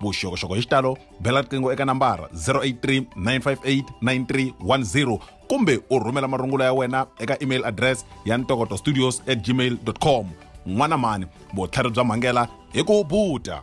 vuxokoxoko hi xitalo bela riqingho eka nambara 083 958 9310 kumbe u rhumela marungula ya wena eka email address ya ntokoto studios at gmail com n'wana mhani vutlhari bya mhangela hi ku buta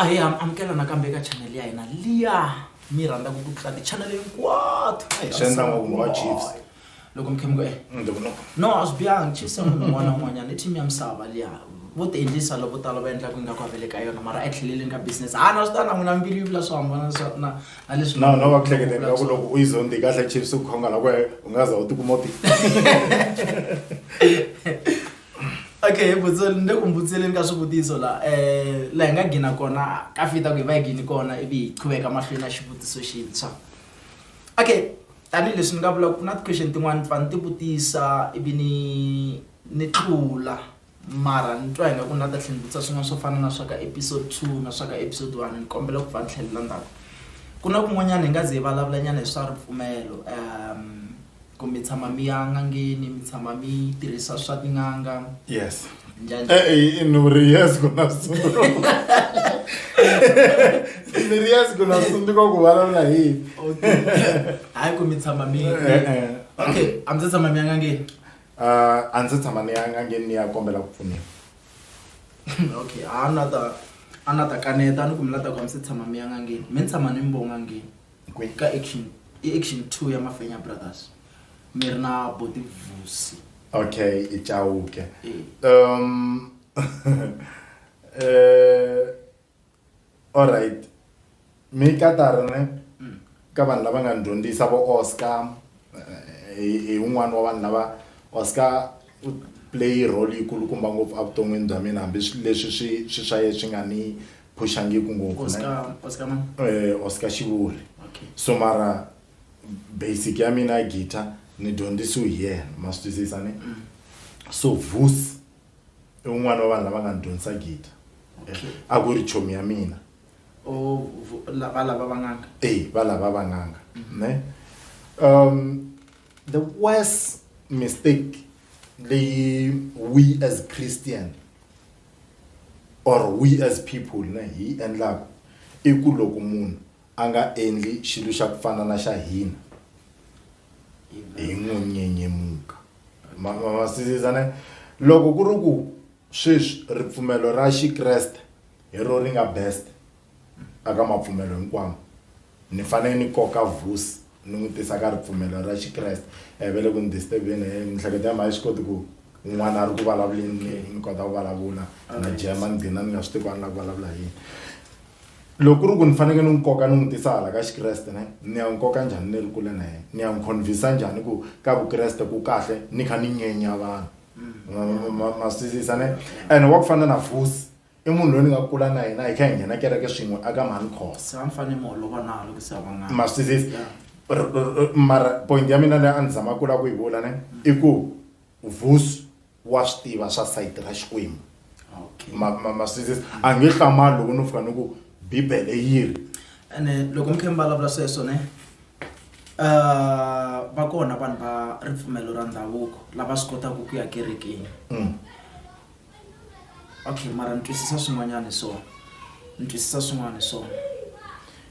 A hi amukela nakambe eka channel ya hina liya mi rhandzaka ku tlula ti-channel hinkwato swi endla ngopfu mhaka chiefs loko mi khe mi ku e no a swi biyangi chiefs ya munhu un'wana na un'wanyana i team ya misava liya vo ti endlisa loko tala va endlaka ingaku a va le ka yona mara etlheleleni ka business ha na swi ta na n'wina mbilu yi vula swo hambana na na leswi na na va ku hleketa ingaku loko u yi zondi kahle chiefs u khongala ku u nga za u tikuma u ti okay butso ni le ku mbutseleni ka swivutiso la um laha hi nga gina kona ka fita ku hi va hi gini kona ivi hi qhuveka mahlweni ya xivutiso xintshwa okay tanihileswi ni nga vula ku na ti-question tin'wani ni fane ni ti vutisa ivi ni ni tlula mara ni twa hi nga ku ni nga ta tlhe ni vutisa swin'wana swo fana na swa ka episode two na swa ka episode one ni kombela ku pfa ni tlhelela ndzhaku ku na kun'wanyana hi nga ze hi vulavulanyana hi swa ripfumelo . ku mi tshama mi ya n'angeni mi tshama mi tirhisa swa tin'anga yes njhani Eh, ni ri yes ku na switsundzuko ni ri yes ku na switsundzuko ku vulavula hi yini okay hayi ku mi tshama mi Eh, eh. okay a mi se tshama mi ya n'angeni Ah, a ndzi tshama ni ya ngangeni ni ya kombela ku pfuniwa okay a na ta a na ta kaneta ni ku mi la ta ku a mi se tshama mi ya n'angeni mi tshama ni mi vo n'angeni Kwe ka action i action 2 ya Mafenya Brothers. Mi ri na Boti Vusi. Okay, i Chauke. Eh. Um eh all right. Mi ka ta ri ne Mm. ka vanhu lava nga ni dyondzisa vo Oscar eh, hi hi un'wana wa vanhu lava Oscar u play role yikulukumba ngopfu evuton'wini bya mina hambi swi- leswi swi swi swa ye swi nga ni phuxangiku ngopfu Oscar, Oscar man? eh, oscar xivuri Okay. so mara basic ya mina ya guitar ni dyondzisiwe hi yena ma swi twisisa ne so vus i un'wana wa vanhu lava nga ni dyondzisa guitar Okay. a ku ri chomi ya mina Oh, vu- la- va lava vanganga. e va lava vanganga ne um the worst mistake leyi we as christian or we as people ne hi yi endlaka i ku loko munhu a nga endli xilo xa ku fana na xa hina hi n'wi nyenyemuka masizisa ne loko ku ri ku sweswi ripfumelo ra xikreste hi ro ri nga best Aka mapfumelo hinkwawo, ni fanele ni koka Vusi ni n'wi tisa ka ripfumelo ra Xikreste. A hi vele ku ni disturb-ini hi mihleketo ya mina a yi swi koti ku un'wana a ri ku vulavuleni ni ni kota ku vulavula na jema ni gcina ni nga swi tivi ku a ni lava ku vulavula hi yini. Loko ku ri ku ni faneke ni n'wi koka ni n'wi tisa hala ka Xikreste ne ni ya n'wi koka njhani ni ri kule na yena, ni ya n'wi convince-a njhani ku ka Vukreste ku kahle ni kha ni nyenya vanhu ma ma ma ma swi twisisa ne. Ene wa ku fana na Vusi. I munhu loyi ni nga kula na yena hi kha hi nghena kereke swin'we aka Mancos. Se a ni fanele ni holova na loko se a va n'anga. Ma swi twisisa? Yeah. R- r- r- mara point ya mina leyi a ni zama kula ku yi vula ne i ku vusi wa swi tiva swa sayiti ra xikwembu Okay. ma ma ma swi twisisa a nge hlamali loko no fika ni ku bibele yi ri ene loko mi khe mi vulavula sweswo ne uh, va kona vanhu va ripfumelo ra ndhavuko lava swi kotaka ku ya kerekeni Mm. okay mara ni twisisa swin'wanyana hi swona ni twisisa swin'wana hi swona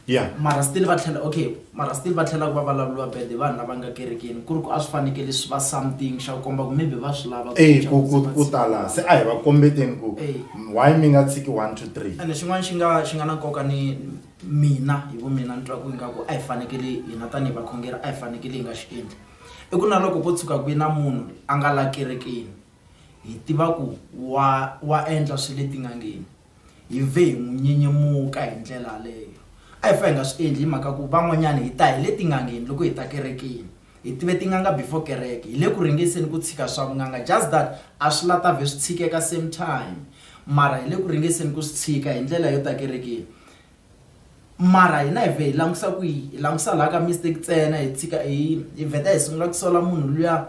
ya mara still va tlhela okay mara still va tlhela ku va vulavuriwa bad hi vanhu lava nga kerekeni ku ri ku a swi fanekele swi va something xa ku komba ku maybe va swi lava e ku ku ku tala se a hi va kombeteni ku eh. why mi nga tshiki one two three ene xin'wana xi nga xi nga na nkoka ni mina hi vu mina ni twa ku ingaku a hi fanekele hina tanihi vakhongeri a hi fanekele hi nga xi endli i ku na loko ko tshuka ku yi na munhu a nga la kerekeni Hi tiva ku wa wa endla swa le tin'angeni. Hi ve hi n'wi nyinyimuka hi ndlela yaleyo. A hi fa hi nga swi endli hi mhaka ku van'wanyana hi ta hi le tin'angeni loko hi ta kerekeni. Hi tive tin'anga before kereke. Hi le ku ringeseni ku tshika swa vun'anga just that a swi la ta vhe swi tshikeka same time. Mara hi le ku ringeseni ku swi tshika hi ndlela yo ta kerekeni. Mara hina hi vhe hi langutisa kwihi? Hi langutisa laha ka mistake ntsena hi tshika hi hi vheta hi sungula ku sola munhu luya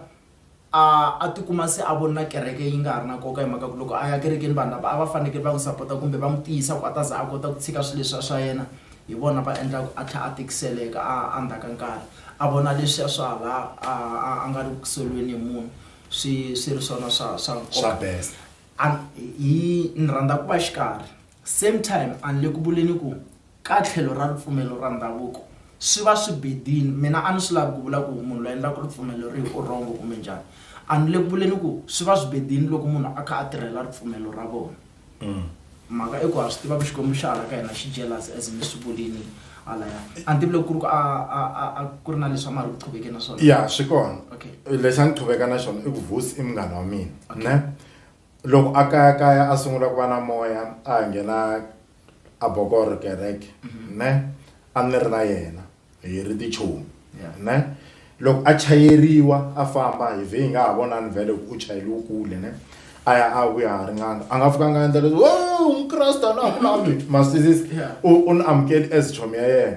a a tikuma se a vona kereke yi nga ha ri na nkoka hi mhaka ku loko a ya kerekeni vanhu lava a va fanekele va n'wi sapota kumbe va n'wi tiyisa ku a ta za a kota ku tshika swilo leswiya swa yena hi vona va endlaka a tlhela a tikiseleka a a ndzhaku ka nkarhi a vona leswiya swa hala a a a nga ri ku tikiseleni hi munhu swi swi ri swona swa swa nkoka a hi ni rhandza ku va xikarhi Same time, a ni le ku vuleni ku ka tlhelo ra ripfumelo ra ndhavuko swi va swi bedile, mina a ni swi lavi ku vula ku munhu loyi a endlaka ripfumelo rihi u wrong kumbe njhani. A ni le ku vuleni ku swi va swi bedile loko munhu a kha a tirhela ripfumelo ra vona. Mhaka i ku ha swi tiva ku Xikwembu xa hala ka hina xi jealous as mi swi vulini halaya. A ni tivi loko ku ri ku a a a a ku ri na leswi a ma ha ri ku qhuvekeni na swona. Ya swi kona. Okay. Lexi a ni qhuveka na xona i ku Vusi i munghana wa mina, ne? loko a kayakaya a sungula ku va na moya a ha nghena a bokor kereke mhm. ne a ni ri na yena hi ri tichomi ne loko a chayeriwa a famba hi vhe hi nga ha vonani vhele ku u chayeliwe kule ne a ya a vuya ha ri n'anga a nga fika a nga endla leswi o mukreste a na ha ku lavi masizisi u ni amukeli as chomi ya yena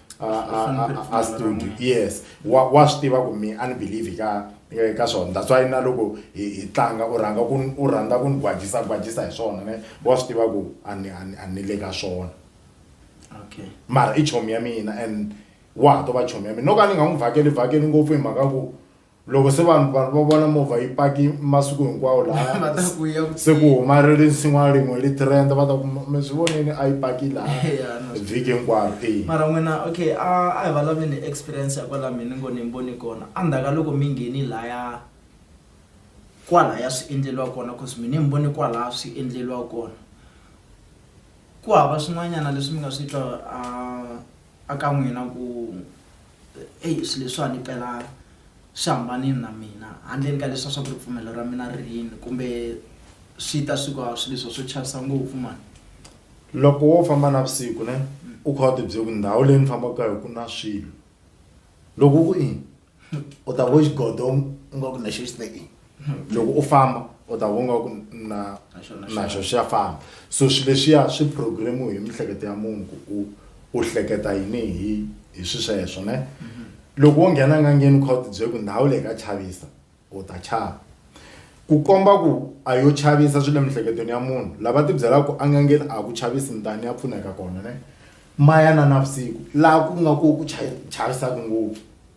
a studio yes wa wa swi tiva ku mi unbelieve ka eh, ka swona that's why na loko hi tlanga u rhanga ku u rhandza ku ni gwajisa gwajisa hi swona ne wa swi tiva ku a ni a ni le ka swona okay mara i chomi ya mina and wa ha to va chomi ya mina no ka ni nga n'wi vhakeli vhakeli ngopfu hi mhaka ku loko se vanhu vanhu va vona movha yi paki masiku hinkwawo laha se ku huma ri ri nsin'wana rin'we li trend va ta ku mi swi vonini a yi paki laha vhiki hinkwaro e mara n'wina okay a a hi vulavuleni hi experience ya kwala mina ngo ni mboni kona a ndzhaka loko mi ngheni laya kwalaya swi endleliwa kona cause mina mi voni kwalaya swi endleliwa kona ku hava swin'wanyana leswi mi nga swi twa a a ka n'wina ku Eyi swilo leswiwani mpela swi hambanile na mina handleni ka leswiya swa ku ripfumelo ra mina ri yini kumbe swi ta swi ku a swilo leswiya swo chavisa ngopfu mhani. Loko wo famba navusiku ne u kha u tibyela ku ndhawu leyi ni fambaka ka yona ku na swilo loko u ku i u ta ku xigodo ingaku lexi xi te i. loko u famba u ta vonga ku na naxo xa famba so swi leswiya swi programme hi miehleketo ya munhu ku u u hleketa yini hi hi swi sweswo ne mhm. loko wo nghena ngangeni u kha u tibyele ku ndhawu leyi ka chavisa u ta chava ku komba ku a yo chavisa swi le miehleketweni ya munhu lava tibyelaka ku angangeni a ku chavisi mutani ya pfuneka kona ne maya na navusiku laha ku nga ku ku chavisaka ngopfu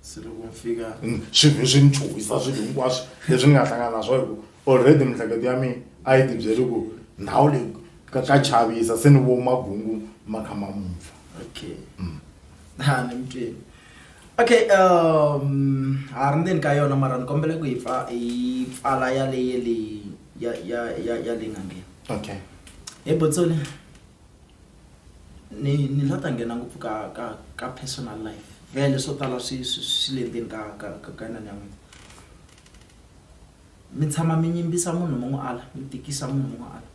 se loko mi fika swilo leswi ni chuhisa swilo hinkwaswo leswi ni nga hlangana na swo hi ku already miehleketo ya mina a yi tibyeri ku ndhawu leyi ka ka chavisa se ni vo magungu ma kha ma mupfa okay mm. ha ni mutweni okay um ha ri ndzeni ka yona mara ni kombele ku yi pfa yi pfala ya leye leyi ya ya ya ya leyi nga nghena okay hi botsoni ni ni nga ta nghena ngopfu ka ka ka personal life vhele swo tala swi swi swi le ndzeni ka ka ka ka inana ya n'wina mi tshama mi yimbisa munhu mi n'wi ala mi tikisa munhu mi n'wi ala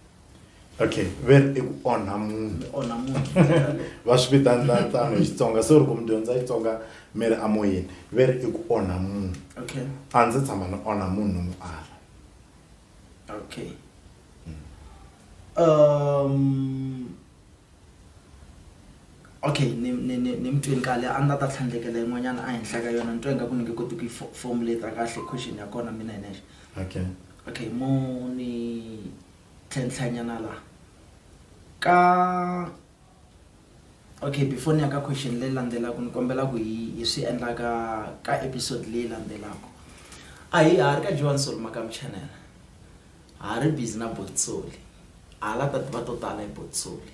okay vhele i ku onha munhu mi onha munhu hi ndlela yaleyo. va swi vitana na tano hi xitsonga se loko mi dyondza xitsonga mi ri amoyeni vhele i ku onha munhu okay a ndzi tshama ni onha munhu ni mu ala Okay. Um okay ni ni ni ni mutweni kale a ndzi ta tlhandlekela yin'wanyana a henhla ka yona ni twa ingaku ni nge koti ku yi fo- formulate kahle question ya kona mina hi nexe okay okay mo ni tlhenhlanyana laha ka okay before ni ya ka question leyi landzelaka ni kombela ku hi hi swi endla ka ka episode leyi landzelaka a hi ha ri ka johan soli makam channel ha ri busy na botsoli ha la ta tiva to tala hi botsoli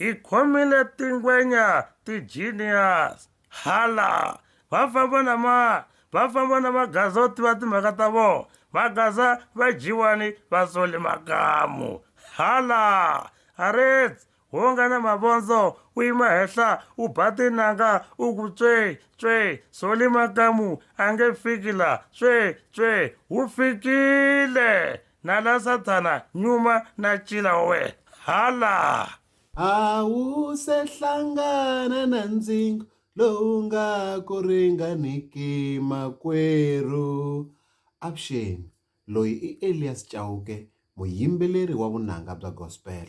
hi khomile tingwenya ti-genius hala va famba na ma va famba na magaza o tiva timhaka ta vona magaza va dyiwani va sole makamu hala arets Wo nga na mavondzo, u yima henhla, u ba tinanga, u ku tswee, tswee, Solly Makamu a nge fiki la, tswee, tswee, wu fikile! Na la Sathana, nyuma, na ncila wa wena. Ha la! A wu se hlangana na ndzingo lowu nga ku ringaniki, makwerhu. Avuxeni, loyi i Elias Chauke, muyimbeleri wa vunanga bya gospel.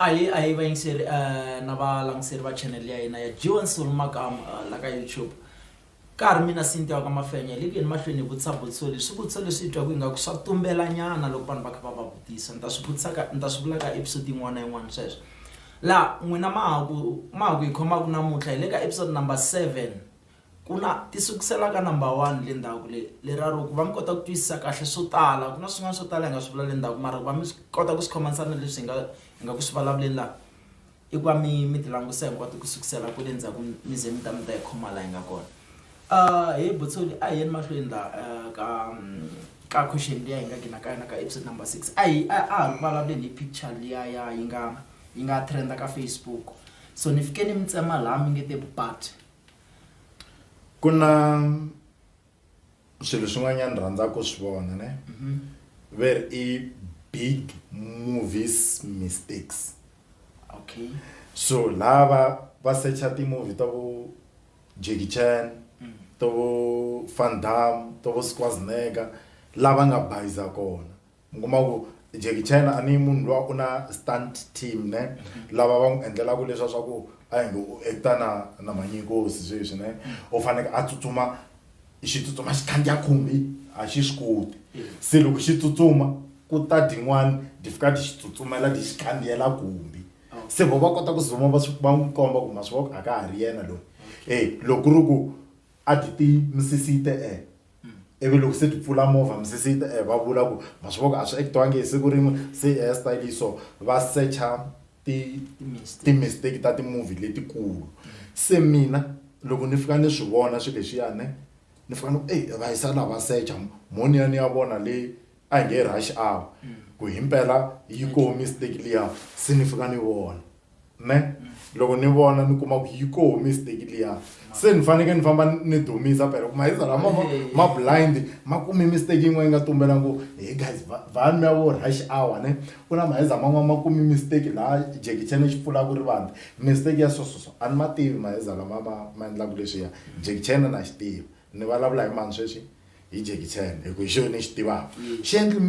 Ahee ahee vayingiseri na valangiseri va channel ya hina ya G1 Soul Makamu la ka YouTube ka ha ri mina Cynthia wa ka Mafenya hi le ku yeni mahlweni hi vutisa vutiso leswi swivutiso leswi hi twaku ingaku swa tumbela nyana loko vanhu va kha va va vutisa ni ta swi vutisaka ni ta swi vula ka episode yin'wana na yin'wana sweswo laha n'wina ma ha ku ma ha ku hi khomaku namuntlha hi le ka episode number seven Ku na ti sukusela ka number one le ndzhaku le le ra ro ku va mi kota ku twisisa kahle swo tala ku na swin'wana swo tala hi nga swi vula le ndzhaku mara ku va mi kota ku swi khomanisa na leswi hi nga hi nga ku swi vulavuleni laha i ku va mi mi ti langutisa hinkwato ku sukusela kwale ndzhaku mi ze mi ta mi ta yi khoma laha hi nga kona he Buthsoni a hi yeni mahlweni laha ka ka question liya hi nga gina ka yona ka episode number six a hi a ha ri ku vulavuleni hi picture liya ya yi nga yi nga trend ka Facebook so ni fike ni mi tsema laha mi nge te but. ku na swilo swin'wanyana ni rhandzaka ku swi vona ne mhm. ve ri i big movies mistakes okay so lava va secha ti-movie ta vo jackie chan mm. to vo van dam to vo squasnega lava nga bayiza kona mi kuma ku Jackie Chan a ni munhu luwa u na stunt team ne mm-hmm. lava va n'wi endlelaka leswa swa ku a hi ngo u acta na na manyinkosi sweswi ne u faneke a tsutsuma xi tsutsuma xi khandziya khumbi a xi swi koti se loko xi tsutsuma ku ta din'wana di fika ti xi tsutsumela ti xi khandziyela khumbi oh. se vo va kota ku zuma va swi va n'wi komba ku ma swi voko a ka ha ri yena loyi e loko ku ri ku a ti ti misisite e ivi loko se ti pfula movha misisi yi ta eh, va vula ku ma swi voko a swi ekitiwangi hi siku rin'we se i hair style so va secha ti ti-mistake ta ti-movie letikulu se mina loko ni fika ni swi vona swilo leswiyani ni fika ni ku eyi va yisa la va secha mhoniyani ya vona le A hi nge rush hour ku himpela yi koho mistake liya se ni fika ni vona ne loko ni vona ni kuma ku yi koho mistake liya se ni fanekele ni famba ni dumisa phela ku mahiza lama ma ma blind ma kume mistake yin'wana yi nga tumbela ngo he guys va va mi ya vo rush hour ne ku na mahiza man'wana ma kume mistake laha Jackie Chan xi pfulaka rivati mistake ya so so so a ni ma tivi mahiza lama ma ma endlaka leswiya Jackie Chan na xi tiva. Ni valavula hi mani sweswi? Hi Jackie Chan hi ku hi xona ni xi tivaka. Xi endli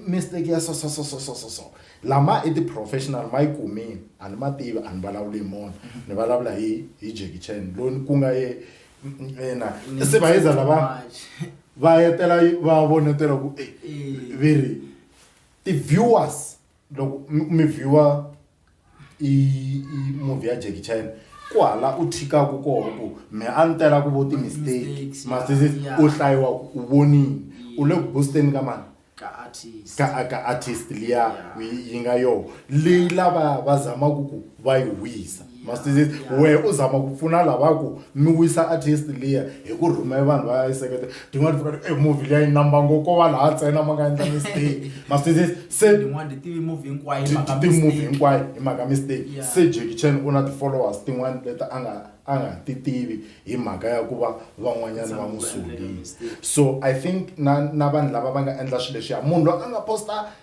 mistake ya so so so so so so. Lama i ti-professional ma yi kumile a ni ma tivi a ni vulavuli hi mona ni vulavula hi hi Jackie Chan loyi ku nga ye ina se va yeza lava va yetela va vonetela ku ve ri ti-viewers loko mi viewer i i movie ya Jackie Chan ku hala u thikaku koho ku me a ni tela ku vo ti mistake ma se se u hlayiwa u vonini u le ku boosteni ka mani ka artist ka ka artist liya yi nga yo leyi lava va zamaku ku va yi wisa ma se se wehe u zama ku pfuna lava ku mi wisa artist liya hi ku rhumela vanhu va yi seketela. tin'wana ti vona e movie leyi number ngo ko va laha ntsena ma nga endla mistake ma swi twisisa se tin'wana ti tivi movie hinkwayo hi ti- mhaka ti- ti-movie mistake. hinkwayo hi mhaka mistake Yeah. se jackie chan u na ti-followers tin'wana leti a nga a nga ti tivi hi mhaka ya ku va van'wanyana va n'wi sungile so i think na na vanhu lava va nga endla swilo leswiya munhu loyi a nga posta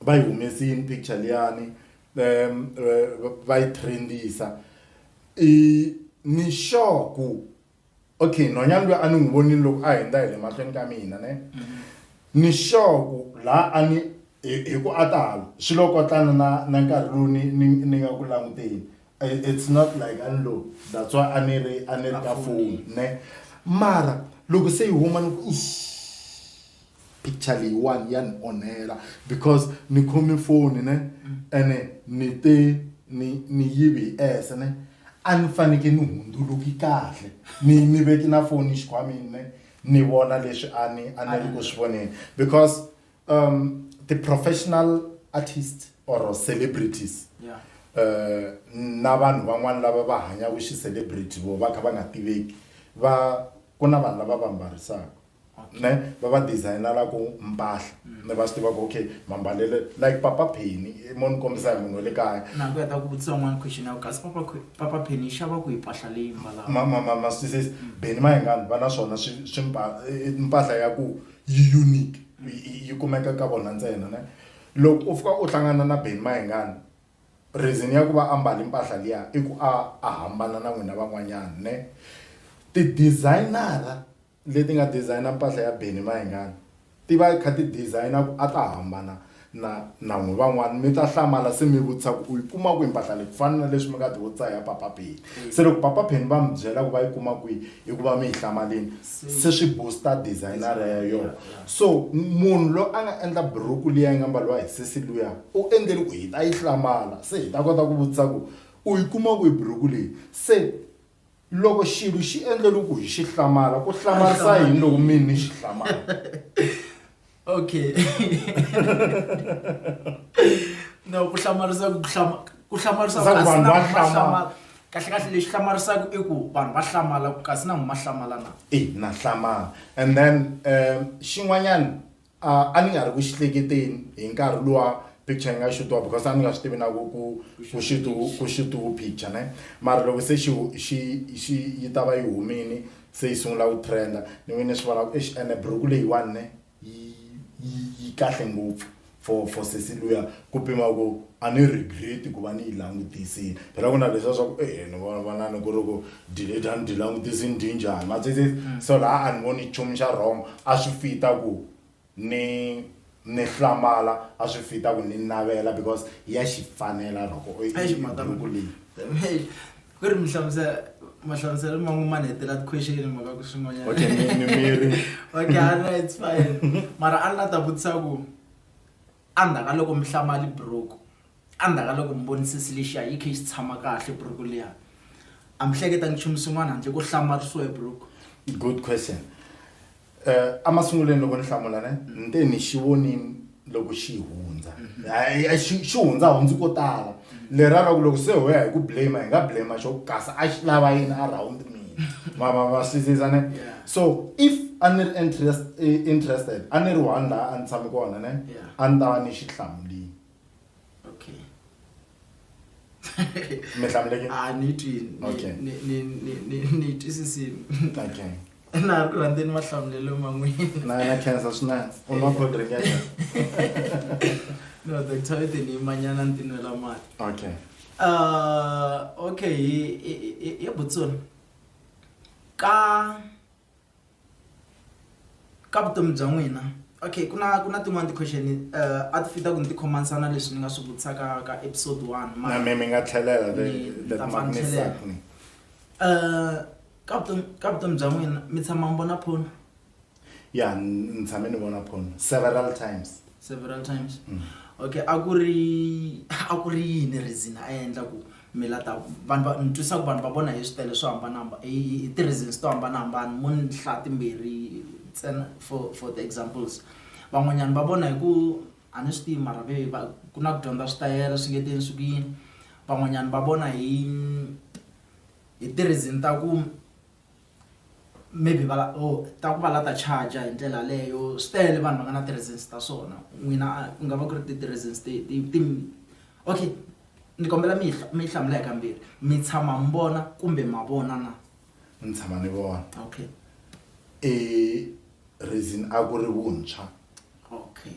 va yi humesini picture liyani um va yi trendisa i ni sure ku okay nhwanyana loyi a ni n'wi vonini loko a hundza hi le mahlweni ka mina ne mm-hmm. ni sure ku laha a ni hi ku a ta hala swi lo kotlana na na nkarhi lowu ni ni ni nga ku languteni it's not like a ni lo that's why a ni ri a ni ri ka foni ne mara loko se yi huma ni ku picture leyiwani ya ni onhela because ni khome foni ne ene ni te ni ni yivi hi ese ne a ni faneke ni hundzuluki kahle ni ni veki na foni xikhwamini ne ni vona leswi a ni a ni ri ku swi voneni because um, the professional artist or celebrities yeah. uh, na vanhu van'wana lava va hanyaku xi-celebrity vo va kha va nga tiveki va ku na vanhu lava va mbarisaka ne va va designelaku mpahla mm. ne va swi tivaka okay mambalele like papa peni eh, mo ni kombisa hi munhu wa le kaya na ku ya ta ku vutisa un'wana question ya kasi papa papa peni yi xava ku yi mpahla leyi mbalaka ma ma ma ma swi twisisi mm. beni ma hi ngani va na swona swi swi eh, mpahla ya ku yi unique yi kumeka ka vona ntsena ne loko u fika u hlangana na Benny Mayengani reason ya ku va ambala impahla liya i ku a a hambana na n'wina van'wanyana ne ti-designer-a leti nga designer mpahla ya Benny Mayengani ti va ti kha ti designer ku a ta hambana Na, na n'wi van'wana mi ta hlamala se mi vutisa ku u yi kuma kwihi mpahla leyi ku fana na leswi mi nga tivutisa ya papa Penny se loko papa Penny va mi byela ku va yi kuma kwihi i ku va mi yi hlamalini se swi booster designer ya yona so munhu loyi a nga endla buruku liya yi nga mbaliwa hi sesi luya u endleli ku hi ta yi hlamala se hi ta kota ku vutisa ku u yi kuma kwihi buruku leyi se Loko xilo xi endle loku hi xi hlamala, ku hlamarisa yini loko mina ni xi hlamala? Okay. No, ku hlamarisa ku hlama ku hlamarisa Swa ku kasi vanhu na va munhu wa hlamala. hlamala. Kahle kahle lexi hlamarisaka i ku vanhu va hlamala ku kasi na munhu wa hlamala na. Ina hlamala and then um xin'wanyana A a ni nga ri ku xi hleketeni hi nkarhi luwa picture yi nga xutiwa because a ni nga swi tivi na ku ku ku xutu ku xutiwu picture ne mara loko se xi xi xi yi ta va yi humini se yi sungula ku trend-a ni ve ni swi vona ku eish ene buruku leyiwani ne yi yi yi kahle ngopfu for for sesi luya ku pima ku a ni regret-i ku va ni yi langutisile phela ku na leswiya swa ku e ni vonani ku ri ku Delete a ni dyi langutisi ni dyi njhani ma swi twisisa so laha a ni voni nchumu xa wrong a swi fit-a ku ni ni hlamala a swi fit-a ku ni navela because ya xi fanela loko i i buruku leyi. Tanihi ku ri mi hlamusela mahlamuselo man'wani ma ni hetela ti-question hi mhaka ku swin'wanyana Okay mi mi mbirhi Okay a no it's fine mara a ni la ta vutisa ku a ndzhaka loko mi hlamali buruku Endzhaku ka loko Muvonisisi lexiya yi khe yi xi tshama kahle buruku liya, a mi hleketangi nchumu swin'wana handle ko hlamarisiwa hi buruku. Good question. Emasungulweni loko ni hlamula ne, ni te ni xi vonini loko xi hundza. Xi xi hundza hundzi ko tala. Leriya ra ku loko se ho ya hi ku blame hi nga blame xo kasi a xi lava yini around mina. Ma ma ma swi twisisa ne? So if a ni ri interested a ni ri one laha a ni tshame kona ne, a ni ta va ni xi hlamulini. okay mi hlamuleke a ni twi ni- Okay. ni- ni- ni- ni- ni twisisini okay na ha ku rhandzeni mahlamulelo man'wini na na cancer swi na u nwa cold drink ya njhani? no doctor i tini manyana ni tinwela mati okay uh, okay hi- hi- hi- hi butsoni ka ka vutomi bya n'wina okay ku na ku na tin'wani ti-question uh, a ti fita ku ni ti khomanisana leswi ni nga swi vutisaka ka episode one na mi mi nga tlhelela letimakunisakni uh, ka vutomi ka vutomi bya n'wina mi tshama mi vona phone ya ni tshame ni vona phone several times several times mm. okay a ku ri a ku ri yini reason a endla ku mi la ta vanhu va ni twisa ku vanhu va vona hi switele swo hambanahamba hi hi- hi ti-reasons to hambanahambana mo ni hlaya timbirhi ntsena for for the examples van'wanyana va vona hi ku a ni swi tivi mara ve va ku na ku dyondza switayela swi nge teni swi ku yini van'wanyana va vona hi hi ti-reason ta ku maybe va or ta ku va la ta charger hi ndlela leyo swi tele vanhu va nga na ti-reasons ta swona n'wina a ku nga va ku ri ti ti-reasons ti ti ti okay ni kombela mi mi hlamula hi kambirhi mi tshama mi vona kumbe ma vona na ni tshama ni vona okay e reason a ku ri vuntshwa okay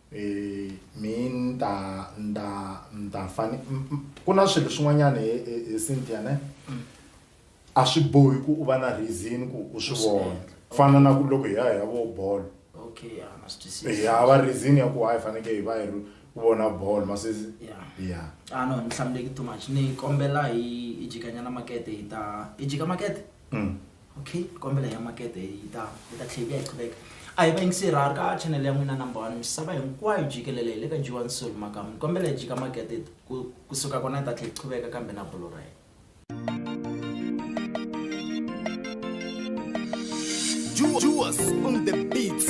Eh, mi ni ta ni ta ni ta fane m- m- ku na swilo swin'wanyana hi hi- hi cynthia ne a swi bohi ku u va na reason ku u swi vona ku fana na ku loko hi ya hi ya vo bolo okay ya na swi twisisa hi hava reason ya ku hayi fanekele hi va hi ri ku vona bolo masesi ya ya ah no ni hlamuleki too much ni kombela hi hi jikanyana makete hi ta hi jika makete Mm. Okay, kombela ya makete yi ta yi ta tlhela yi ya hi qhuveka. A hi va yingiseri ha ri ka channel ya n'wina number one misava hinkwayo jikelele hi le ka G1 Soul Makamu. Ni kombela hi jika makete ku kusuka kona hi ta tlhela hi qhuveka kambe na bolo ra hina. Juice on the beats.